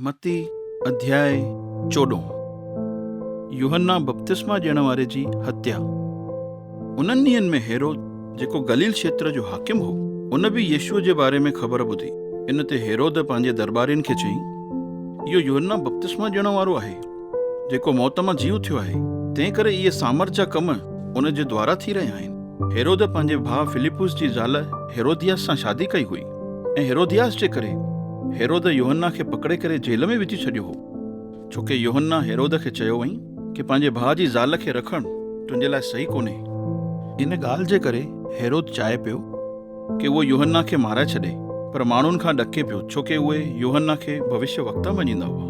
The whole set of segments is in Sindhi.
متي اڌياء چوڏهون، يوحنا بپتسما ڏيڻ واري جي هتيا. انهن ڏينهن ۾ هيرود جيڪو گليل کيتر جو حاڪم هو، ان به يسوع جي باري ۾ خبر ٻڌي. ان تي هيرود پنهنجي درٻارين کي چيائين، اهو يوحنا بپتسما ڏيڻ وارو آهي، جيڪو موت مان جي اٿيو آهي، تنهنڪري اهي سامرٿ جا ڪم ان جي دوارا ٿي رهيا آهن. هيرود پنهنجي ڀاء فلپس جي زال هيرودياس سان شادي ڪئي هئي. ۽ هيرودياس جي ڪري هيرود يوحنا کي پڪڙي ڪري جيل ۾ وجهي ڇڏيو هو، ڇو ڪي يوحنا هيرود کي چيو هئائين ڪي پنهنجي ڀاء جي زال کي رکڻ تنهنجي لاء صحيح ڪونهي. ان ڳالهه جي ڪري هيرود چاهي پيو ڪي اهو يوحنا کي مارائي ڇڏي، پر ماڻهن کان ڏڪي پيو، ڇو ڪي اهي يوحنا کي ڀوشيوڪتا مڃيندا هئا.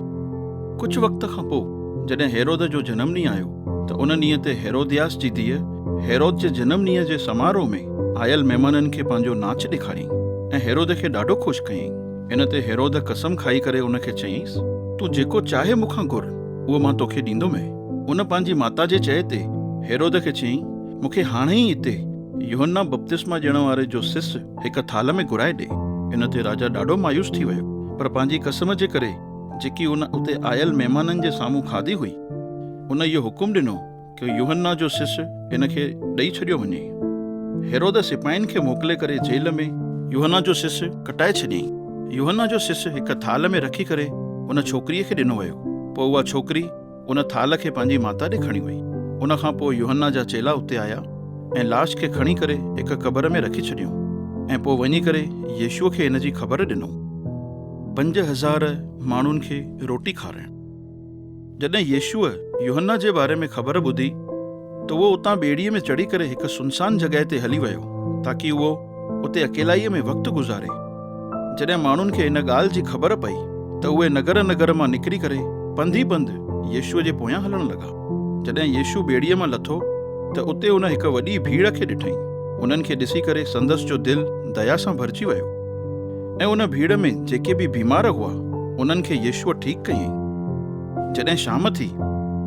ڪجهه وقت کان پوء جڏهن هيرود جو جنم ڏينهن آيو، ته ان ڏينهن تي هيرودياس جي ڌيء هيرود جي جنم ڏينهن جي سماروهه ۾ آيل مهمانن کي پنهنجو ناچ ڏيکاريائين ۽ هيرود کي ڏاڍو خوش ڪيائين. ان تي هيرود قسم کائي ڪري ان کي چيائينس، تون جيڪو چاهي مون کان گهر، اهو مان توکي ڏيندومئي. ان پنهنجي ماتا جي چئي تي هيرود کي چيائين، مون کي هاڻي ئي هتي يوحنا بپتسما ڏيڻ واري جو سس هڪ ٿالهه ۾ گهرائي ڏي. ان تي راجا ڏاڍو مايوس ٿي ويو، پر پنهنجي قسم جي ڪري جيڪي هن اتي آيل مهمانن جي سامهون کاڌي هئي، هن اهو حڪم ڏنو ڪه يوحنا جو سس هن کي ڏئي ڇڏيو وڃي. هيرودس سپاهين کي موڪلي ڪري جيل ۾. يوحنا جو سس ڪٽائي ڇڏيائين. يوحنا جو سس هڪ ٿالهه ۾ رکي ڪري ان ڇوڪريء کي ڏنو ويو. پوء اها ڇوڪري. ان ٿالهه کي پنهنجي ماتا ڏي کڻي وئي. ان کان پوء يوحنا جا چيلا اتي آيا ۽ لاش کي کڻي ڪري هڪ قبر ۾ رکي ڇڏيائون ۽ پوء وڃي ڪري يسوع کي ان جي خبر ڏنائون. پنج هزار ماڻهن کي روٽي کارائڻ. جڏهن يسوع يوحنا جي باري ۾ خبر ٻڌي، ته اهو اتان ٻيڙيء ۾ چڙهي ڪري هڪ سنسان جڳهه تي هلي ويو تاڪي اهو اتي اڪيلائيء ۾ وقت گذاري. جڏهن ماڻهن کي ان ڳالهه جي خبر پئي ته اهي نگر نگر مان نڪري ڪري پنڌ ئي پنڌ يسوع جي پويان هلڻ لڳا. جڏهن يسوع ٻيڙيء مان لٿو ته اتي هن هڪ وڏي ڀيڙ کي ڏٺائين. انهن کي ڏسي ڪري سندس جو دل ديا سان ڀرجي ويو ۽ ان ڀيڙ ۾ جيڪي به بيمار هئا انهن کي يسوع ٺيڪ ڪيائين. جڏهن شام ٿي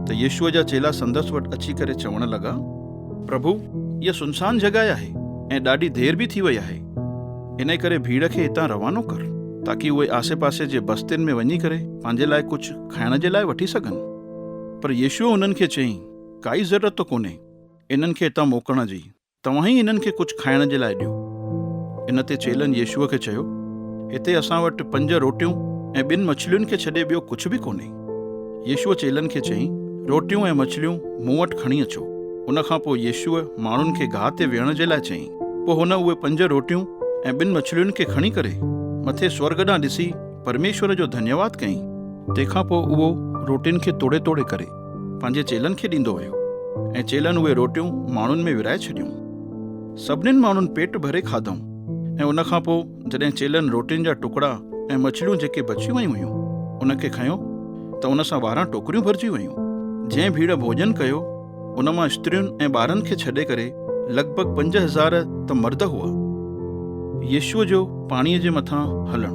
ته يسوع جا چيلا سندس وٽ اچي ڪري چوڻ لڳا، پرڀو، اها سنسان جڳهه آهي ۽ ڏاڍي دير به ٿي وئي آهي، انهيء ڪري ڀيڙ کي هتان روانو ڪر، تاڪي اهي آسي پاسي جي بستين ۾ وڃي ڪري پنهنجي لاء ڪجهه کائڻ جي لاء وٺي سگهن. پر يسوع انهن کي چيائين، ڪائي ضرورت ته ڪونهي انهن کي هتان موڪلڻ جي، توهان ئي هنن کي ڪجهه کائڻ جي لاء ڏيو. ان تي چيلن يسوع کي چيو، هتي اسان وٽ پنج روٽيون ۽ ٻن مڇلين کي ڇڏي ٻيو ڪجهه به ڪونهي. يسوع چيلن کي چيائين، روٽيون ۽ مڇليون مون وٽ کڻي اچو. ان کان پوء يسوع ماڻهن کي گاهه تي ويهڻ جي لاء چيائين. پوء هن اهي پنج روٽيون ۽ ٻن مڇلين کي کڻي ڪري مٿي سورڳ ڏانهن ڏسي پرميشور جو ڌنيواد ڪيائين. تنهن کان پوء اهو روٽين کي توڙي توڙي ڪري پنهنجي چيلن کي ڏيندو ويو ۽ چيلن اهي روٽيون ماڻهن ۾ ورهائي ڇڏيون. سڀنين ماڻهن پيٽ ڀري کاڌائون ۽ ان کان پوء جڏهن چيلن روٽين جا ٽڪڙا ۽ مڇليون جيڪي بچيون ويون هيون ان کي کنيو ته ان سان ٻارهن ٽوڪريون ڀرجي ويون. جنهن ڀيڙ ڀوڄن ڪيو ان مان استرين ۽ ٻارن کي ڇڏي ڪري لڳ ڀڳ پنج هزار ته مرد هئا. يسوع جو پاڻيء جي مٿان هلڻ.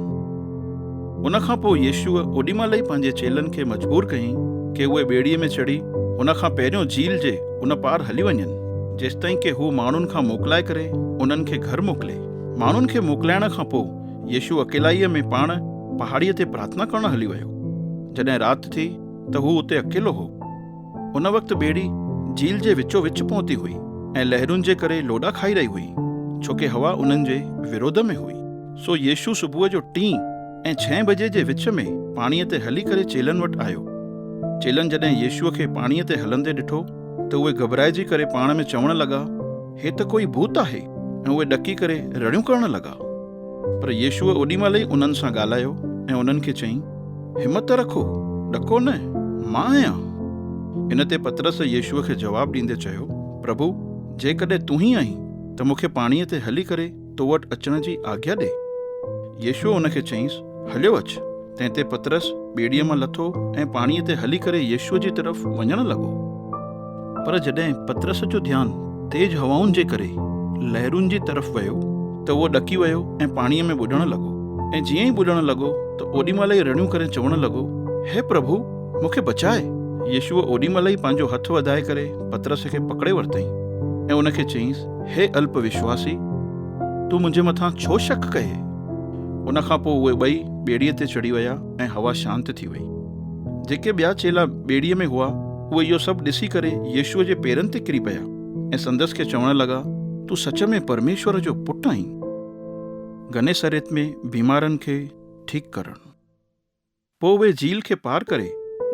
ان کان پوء يسوع اوڏي مهل ئي پنهنجي چيلن کي مجبور ڪيائين ڪي اهي ٻيڙيء ۾ چڙهي هن کان پهريون جيل جي ان پار هلي وڃن، جيستائين ڪي هو ماڻهن کان موڪلائي ڪري انهن کي گهر موڪلي. ماڻهن کي موڪلائڻ کان پوء يسوع اڪيلائيء ۾ پاڻ پهاڙيء تي پرارٿنا ڪرڻ هلي ويو. جڏهن رات ٿي ته هو اتي اڪيلو هو. ان وقت ٻيڙي جھيل جي وچو وچ پهتي هئي ۽ لهرن جي ڪري لوڏا کائي رهي هئي، ڇو ڪي هوا انهن جي ورود ۾ هئي. سو يسوع صبح جو ٽين ۽ ڇهين بجي جي وچ ۾ پاڻيء تي هلي ڪري چيلن وٽ آيو. چيلن جڏهن يسوع کي پاڻيء تي هلندي ڏٺو ته اهي گهٻرائجي ڪري پاڻ ۾ چوڻ لڳا، هي ته ڪوئي ڀوت آهي ۽ اهي ڏڪي ڪري رڙيون ڪرڻ لڳا. پر يسوع اوڏي مهل ئي انهن سان ڳالهايو ۽ انهن کي چيائين، همت رکو، ڏڪو نه، مان آهيان. ان تي پطرس يسوع کي جواب ڏيندي چيو، پرڀو، جيڪڏهن تون ئي آهين، ته مون کي پاڻيء تي هلي ڪري تو وٽ اچڻ جي آگيا ڏي. يسوع ان کي چيائينس، هليو اچ. تنهن تي پطرس ٻيڙيء مان لٿو ۽ پاڻيء تي هلي ڪري يسوع جي طرف وڃڻ لڳو. پر جڏهن پطرس جو ڌيان تيز هوائن جي ڪري لهرن جي طرف ويو ته اهو ڏڪي ويو ۽ پاڻيء ۾ ٻڏڻ لڳو ۽ جيئن ئي ٻڏڻ لڳو ته اوڏي مهل ئي رڙيون ڪري چوڻ لڳو، هي پرڀو، مون کي بچاء! يسوع اوڏي مهل ئي پنهنجو هٿ وڌائي ڪري پطرس کي پڪڙي ورتائين ۽ ان کي چيائينس، هي الپ وشواسي، تون منهنجي مٿان ڇو شڪ ڪيئي؟ ان کان پوء اهي ٻئي ٻيڙيء تي چڙهي ويا ۽ هوا شانت ٿي وئي. جيڪي ٻيا چيلا ٻيڙيء ۾ هئا، اهي اهو سڀ ڏسي ڪري يسوع جي پيرن تي ڪري پيا ۽ سندس کي چوڻ لڳا، تون سچ ۾ پرميشور جو پٽ آهين. گنيسريت ۾ بيمارن کي ٺيڪ ڪرڻ. پوء اهي جيل کي پار ڪري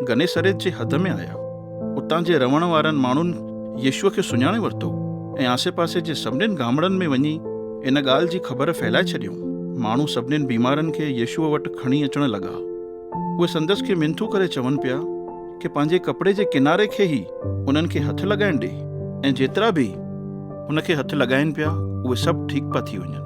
گنيسريت جي حد ۾ آيا. اتان جي رهڻ وارن ماڻهن يسوع کي سڃاڻي ورتو ۽ آسي پاسي جي سڀني گامڙن ۾ وڃي ان ڳالهه جي خبر ڦهلائي ڇڏيائون. ماڻهو سڀني بيمارن کي يسوع وٽ کڻي اچڻ لڳا. اهي سندس کي منٿون ڪري چون پيا ڪي پنهنجي ڪپڙي جي ڪناري کي ئي انهن کي هٿ لڳائڻ ڏي ۽ جيترا به هن کي هٿ لڳائين پيا اهي سڀ ٺيڪ پيا ٿي وڃن.